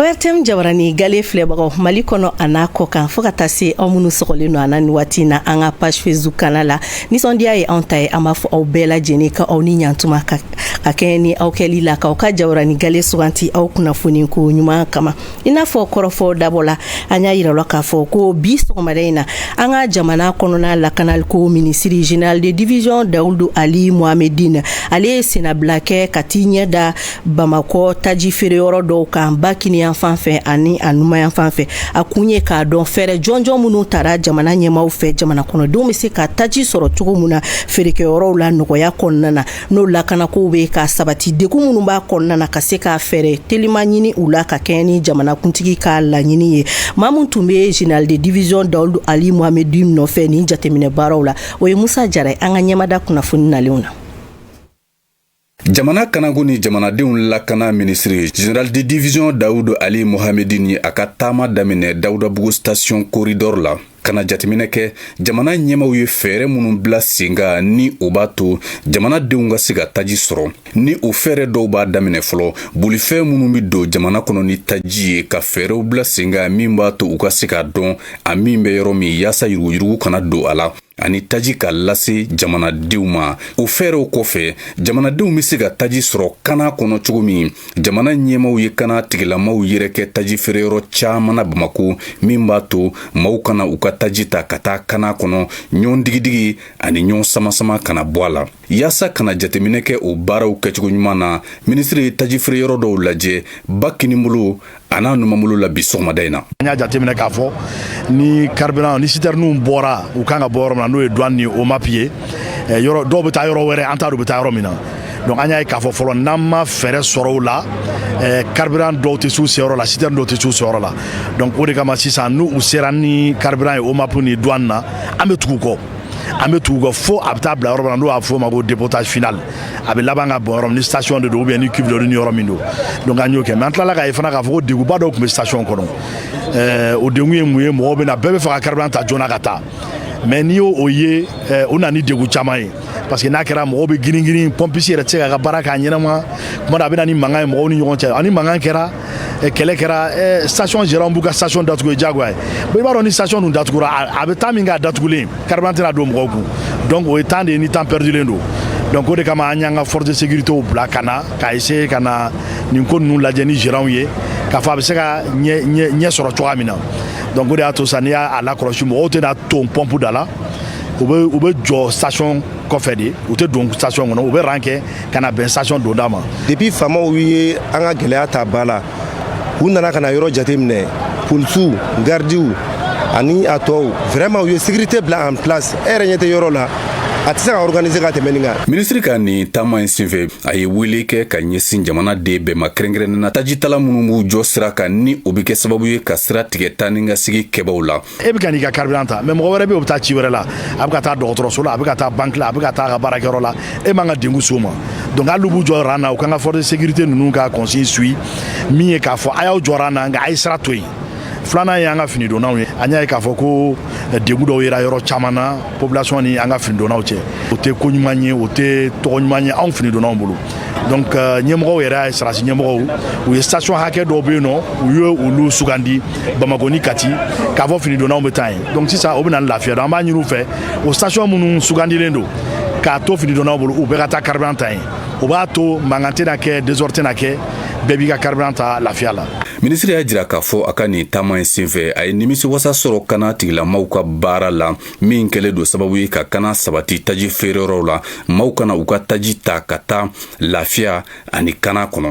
ORTM jabarani gale filɛbagaw Mali kɔnɔ a n'a kɔkan fo ka taa se aw minnu sɔgɔlen don an na ni waati in na an ka page Facebook kanna la nisɔndiya ye anw ta ye an b'a fɔ aw bɛɛ lajɛlen ka aw ni ɲantuma ka ka kɛɲɛ ni aw kɛli la k'aw ka jabarani gale sugandi aw kunnafoni ko ɲuman kama i n'a fɔ kɔrɔfɔ dabɔ la an y'a yira la k'a fɔ ko bi sɔgɔmada in na an ka jamana kɔnɔna lakanaliko minisiri général de division Dawudu Ali Mohamedine ale ye sennabila kɛ ka t'i ɲɛ da bamakɔ taji feereyɔrɔ dɔw kan ba kiniyanfan fɛ ani a numayanfan fɛ a kun ye k'a dɔn fɛɛrɛ jɔnjɔn minnu tara jamana ɲɛmaw fɛ jamana kɔnɔdenw bɛ se ka taji sɔrɔ cogo min na feerekɛyɔrɔw la nɔgɔya kɔnɔna na n'o lakanakow bɛ ka sabati degun minnu b'a kɔnɔna na ka se ka fɛɛrɛ telima ɲini u la ka kɛɲɛ ni jamanakuntigi ka laɲini ye maa min tun bɛ général de division dawudu ali mohamɛdin nɔfɛ nin jateminɛ baaraw la o ye musa jara ye an ka ɲɛmada kunnafoni nalenw na Jamana kanako ni jamanadenw lakana minisiri Général de division Dawudu Ali Mohamedine ye a ka taama daminɛ Dawudabugu station corridor la ka na jateminɛ kɛ jamana ɲɛmaw ye fɛɛrɛ minnu bila sen kan ni o b'a to jamanadenw ka se ka taji sɔrɔ ni o fɛɛrɛ dɔw b'a daminɛ fɔlɔ bolifɛn minnu bɛ don jamana kɔnɔ ni taji ye ka fɛɛrɛw bila sen kan min b'a to u ka se k'a dɔn a min bɛ yɔrɔ min yaasa yuruguyurugu kana don a la ani taji ka lase jamanadenw ma o fɛɛrɛw kɔfɛ jamanadenw be se ka taji sɔrɔ kana kɔnɔ cogo min jamana ɲɛmaw ye kana tigilamaw yɛrɛ kɛ taji feereyɔrɔ caaman na bamako min b'a to maw ka na u ka taji ta ka taa kana kɔnɔ ɲɔgɔn digidigi ani ɲɔgɔn samasama ka na bɔ a la Yaasa ka na jateminɛ kɛ o baaraw kɛcogo ɲuman na minisiri ye taji feereyɔrɔ dɔw lajɛ ba kinibolo a n'a numabolo la bi sɔgɔmada in na an y'a jateminɛ k'a fɔ ni carburant ni sitɛriniw bɔra u kan ka bɔ yɔrɔ min na n'o ye dwan ni OMAP ye eh, yɔrɔ dɔw bɛ taa yɔrɔ wɛrɛ an t'a dɔn u bɛ taa yɔrɔ min na donc an y'a ye k'a fɔ fɔlɔ n'an ma fɛɛrɛ sɔrɔ o la eh, carburant dɔw tɛ s'u seyɔrɔ la sitɛrini dɔw tɛ s'u seyɔrɔ la donc o de kama sisan n'u u sera ni carburant ye OMAP ni dwan na an bɛ tugu kɔ an bɛ tugu kɔ fo a bɛ taa bila yɔrɔ min na n'o b'a fɔ o ma ko dépotage final a bɛ laban ka bɔn yɔrɔ min ni station de don ou bien ni cuve ni yɔrɔ min don donc an y'o kɛ mais an tilala k'a ye fana k'a fɔ ko degunba dɔw tun bɛ station kɔnɔ ɛɛ o degun ye mun ye mɔgɔw bɛ na bɛɛ bɛ fɛ ka carburant ta joona ka taa mais n'i y'o o ye eh, o na ni degun caman ye parce que n'a kɛra mɔgɔw bɛ girin girin pompiste yɛrɛ tɛ se k'a ka baara k'a ɲɛnama kuma dɔ a bɛ na ni mankan ye mɔgɔw ni ɲɔgɔn cɛ ani mankan kɛra kɛlɛ kɛra station gérant b'u ka station datugu jagoya ye bon i b'a dɔn ni station dun datugura a bɛ temps min k'a datugulen carburant tɛna don mɔgɔw kun donc o ye temps de ye ni temps perdulen don donc o de kama an y'an ka force de sécurité bila ka na ka essayer ka na nin ko ninnu lajɛ ni gérant ye k'a fɔ a bɛ se ka ɲɛ ɲɛ sɔrɔ cogoya min na donc o de y'a to sisan n'i y'a lakɔlɔsi mɔgɔw tɛna ton pɔnpu da la u bɛ u bɛ jɔ station kɔfɛ de u tɛ don station kɔnɔ u bɛ rang kɛ ka na bɛn station donda ma depuis faamaw ye an ka gɛlɛya ta ba la u nana ka na yɔrɔ jateminɛ polisiw gardiw ani a tɔw vraiment u ye sécurité bila en place e yɛrɛ ɲɛ tɛ yɔrɔ la a tɛ se ka organiser ka tɛmɛ nin kan minisiri ka nin taama in senfɛ a ye wele kɛ ka ɲɛsin jamanaden bɛɛ ma kɛrɛnkɛrɛnnena tajitala minnu b'u jɔ sira kan ni o bɛ kɛ sababu ye ka sira tigɛ taa ni ka segin kɛbaaw la e bɛ ka n'i ka carburant ta mais mɔgɔ wɛrɛ bɛ yen o bɛ taa ci wɛrɛ la a bɛ ka taa dɔgɔtɔrɔso la a bɛ ka taa banque la a bɛ ka taa a ka baarakɛyɔrɔ la e man ka degun s'o ma donc hali n'u b'u jɔ ran na u kan ka force de sécurité ninnu ka consigne suit min ye k'a fɔ a y'aw jɔ ran na nka a ye sira to yen filanan ye an ka finidonnaw ye an y'a ye k'a fɔ ko eh, degun dɔw yera yɔrɔ caman na population ni an ka finidonnaw cɛ o tɛ ko ɲuman ye o tɛ tɔgɔ ɲuman ye anw finidonnaw bolo donc euh, ɲɛmɔgɔw yɛrɛ ye sɔrɔdasi ɲɛmɔgɔw u ye station hakɛ dɔw bɛ yen nɔ u ye olu sugandi bamakɔ ni kati k'a fɔ finidonnaw bɛ taa yen donc sisan o bɛ na ni lafiya donc an b'a ɲini u fɛ o station minnu sugandilen don k'a to finidonnaw bolo u bɛɛ ka taa carburant ta yen o b'a to mankan tɛna kɛ desordre tɛna kɛ bɛɛ b'i ka carburant ta lafiya la minisiri y'a jira k'a fɔ a ka nin taama in senfɛ a ye nimisiwasa sɔrɔ kana tigilamaw ka baara la min kɛlen don sababu ye ka kana sabati taji feereyɔrɔw la maaw ka na u ka taji ta ka taa lafiya ani kana kɔnɔ